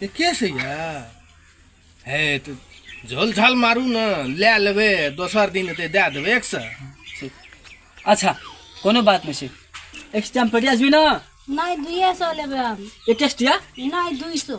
के से हे तऽ झोल झाल मारू ने लए लेबै दोसर दिन एतै दए देबै एक सए अच्छा कोनो बात नहि छै एक टाइम पड़ि जाबी ने नहि दुइए सए लेबै हम एक टेस्टिया नहि दुइ सए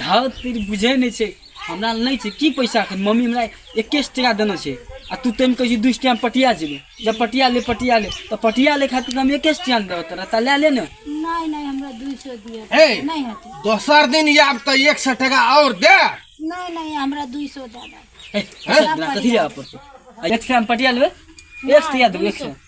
धाव तेरी बुझे नहीं छे हमरा लग नहीं छे की पैसा अखन मम्मी हमरा इक्कीस टका देने छे आ तू तेम कही दू टाइम पटिया जेबे जब पटिया ले पटिया ले तो पटिया ले खातिर हम इक्कीस टका देबे तोरा ता ले ले ने नहीं नहीं हमरा दू सौ दिया हे। नहीं हटे दोसर दिन याब तो एक सौ टका और दे नहीं नहीं हमरा दू सौ ज्यादा ए, अच्छा, तोरा कथी ले आप पड़ते एक टका में पटिया लेबे एक टका देबे एक सौ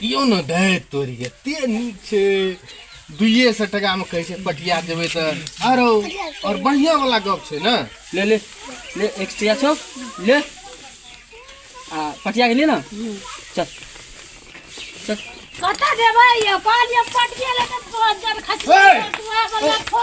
दियौ ने दै तोरी एते नीक छै दुइए सए टाकामे कहै छै पटिया देबै तऽ आरो आओर बढ़िआँ वाला गप छै ने ले ले ले एक सए छौ ले आ पटिया के ले ने चल चल कतऽ देबै यौ कहलियै पटिया लेके तोहर जब खसी ए! तू आगो लखो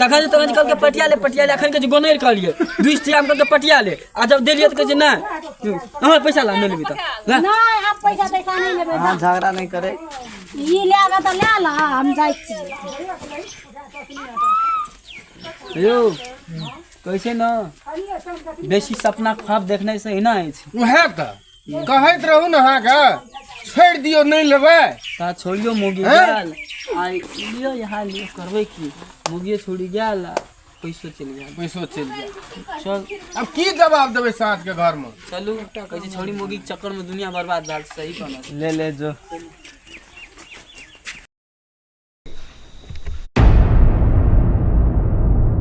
तखन तखन जे कहलकै पटिया ले पटिया ले अखन के जे गोनैर कहलियै बीस टका में कहलकै पटिया ले आ जब देलियै तऽ कहै छै नहि अहाँ पैसा ला नहि लेबै तऽ ला नहि आब पैसा तैसा नहि लेबै अहाँ झगड़ा नहि करे ई लए कऽ तऽ लए लऽ हम जाइ छी यौ कहै छै ने बेसी सपना ख्वाब देखने से ही ना अछि उहे तऽ कहैत रहू ने अहाँके छोड़ि दियौ नहि लेबै ता छोड़ियो मुगी हैं? गेल आ लियो यहाँ लियो करबै की मुगिए छोड़ि गेल आ पैसो चलि गेल पैसो चलि जाय चल अब की जवाब देबै साँझ के घर में चलू कहै छै छोड़ी मुगी के चक्कर में दुनिया बर्बाद भेल सही कहना छै ले ले जो